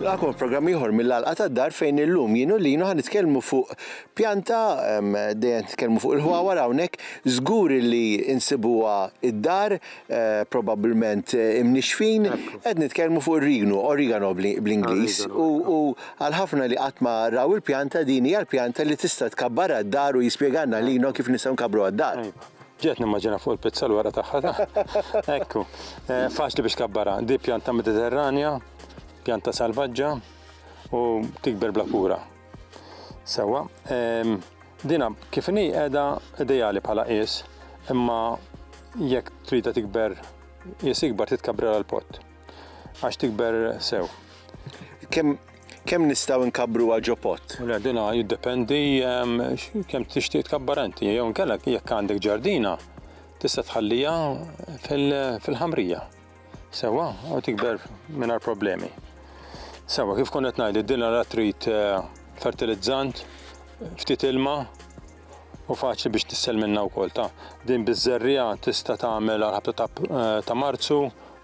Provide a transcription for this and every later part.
Nilqakom f'programm ieħor mill-għalqa tad-dar fejn illum jien u linu ħan nitkellmu fuq pjanta dejjem nitkellmu fuq il-ħwawar hawnhekk żgur li insibuha id-dar probabbilment imnixxfin, qed nitkellmu fuq ir-rignu, origano bl-Ingliż, u għal ħafna li qatt ma raw il-pjanta din hija l-pjanta li tista' tkabbar għad-dar u jispjegalna lilna kif nistgħu nkabbru għad-dar. Iva. Ġejt nimmaġina fuq il-pizza l-wara tagħha. Ekku. Faċli biex kabbarha. Di pjanta Mediterranja, pjanta salvaġġa u tikber bla kura. Sewa, ehm, dina kif inhi qiegħda ideali bħala qies, imma jekk trida tikber qies ikbar titkabbra għal pott għax tikber sew. Kemm kemm nistgħu nkabbru ġo pott? Le dina jiddependi ehm, kemm tixtieq tkabbar inti, jew nkellek jekk għandek ġardina tista' tħallija fil-ħamrija. Sewa, u tikber mingħajr problemi. Sewa, kif konet ngħid, id-dinja la trid eh, fertilizzant, ftit ilma, u faċli biex tissel minna u kol ta' din bizzerrija tista tagħmel għal-ħabta eh, ta' marzu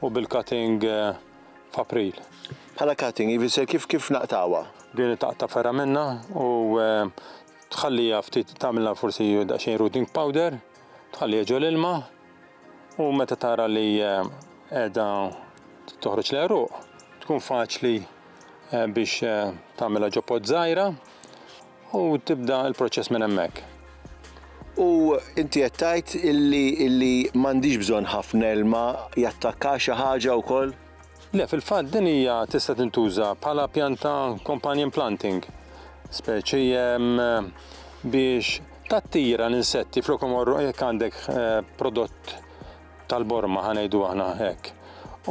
u bil-cutting eh, f'april. Bħala cutting, jifisser kif kif naqtawa? Din taqta ferra minna u eh, tħallija ftit tagħmilha forsi daqsxejn rooting powder Tħalli jiġu l-ilma u meta tara li qiegħda toħroġ l-għeruq tkun faċli biex tagħmilha ġo pot żgħira u tibda l-proċess minn hemmhekk. U inti qed tgħid illi illi m'għandhiex bżonn ħafna ilma jattakka xi ħaġa wkoll? Le, fil-fatt din hija tista' tintuża bħala pjanta companion planting, speċi biex tattira l-insetti flok imorru jekk għandek eh, prodott tal-borma ħanejdu aħna hekk.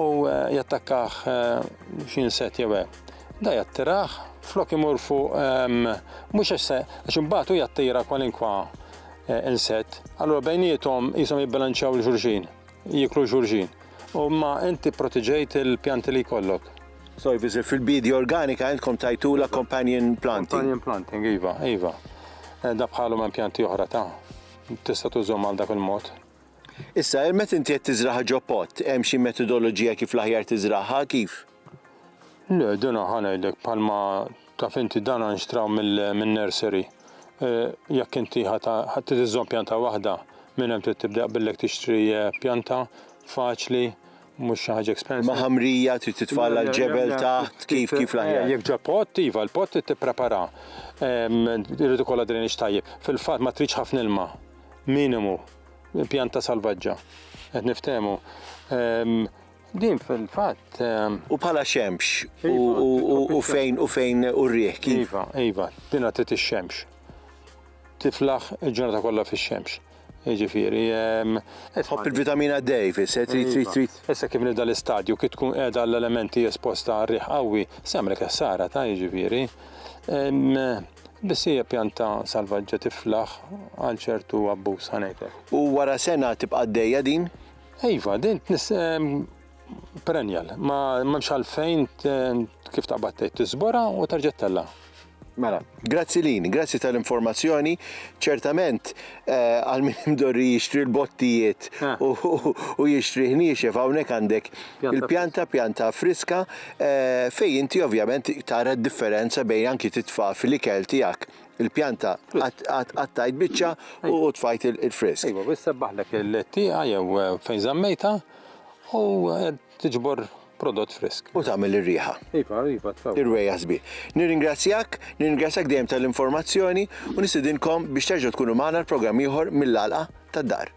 U eh, jattakkah eh, xi insett jew hekk da jattiraħ flok imur fuq mhux għax għax imbagħad jattira kwalinkwa eh, insett, allura bejnietom jisom jibbilanċaw l-xulxin. Jieklu xulxin. U imma inti pprotiġejt il-pjanti li jkollok. Sorry, biżi fil-bidja organika għandkom tajtula companion planting. Companion planting, iva, iva. Eh, da bħalhom hemm pjanti oħra ta' tista' tużhom għal dak il-mod. Issa, il-met inti qed tiżraħ ġo pot, hemm xi metodoloġija kif l-aħjar tiżraħha, kif? Le, dina ħa ngħidlek bħalma taf inti dana nxtraw min-nursery. Eh, jekk inti ħadd tiżżomm pjanta waħda, minn hemm trid tibda billek tixtri eh, pjanta faċli mhux xi ħaġa expensive. Ma ħamrija trid titfalla l-ġebel taħt kif kif l-aħjar. Eh, jekk ġa pot, iva, l-pot trid tipprepara. Irid ikollha drainage tajjeb. Fil-fatt ma tridx ħafna ilma. Minimu. Pjanta salvaġġa. Qed niftehmu. Din fil-fatt. Ehm, u bħala xemx iva, u fejn u fejn u rriħ kif. Iva, iva, dina tit ix-xemx. Tiflaħ il-ġurnata kollha fix-xemx. Ġifieri. Ehm, Tħobb il-vitamina D, fis, eh, trid trid trid. Iva. Issa kif nibda l-istadju kif tkun qiegħda l-elementi esposta għar-riħ qawwi, semrek essara ta' jiġifieri. Ehm, biss hija pjanta salvaġġa tiflaħ għal ċertu abbuż ħanejtek. U wara sena tibqa' għaddejja din? Iva, din tnis perennial, ma memx għalfejn kif taqbad tgħid tiżbora u terġa' tella'. Mela, grazzi lin, grazzi tal-informazzjoni. Ċertament, eh, għal min imdorri jixtri l-bottijiet eh. u jixtri ħniexef hawnhekk għandek il-pjanta pjanta friska eh, fej inti ovvjament tara d-differenza bejn anki titfa' fil-ikel tiegħek il-pjanta, għattajt bicċa u tfajt il-frisk. Iva, bis sebbaħlek il-tieqa jew eh, fejn zammejta u eh, tiġbor prodott frisk. U tagħmel ir-riħa. Iva, iva, tfew. Ir-rwejja sbieħ. Nirringrazzjak, nirringrazzjak dejjem tal-informazzjoni u nistidinkom biex terġgħu tkunu magħna l-programm ieħor mill-għalqa tad-dar.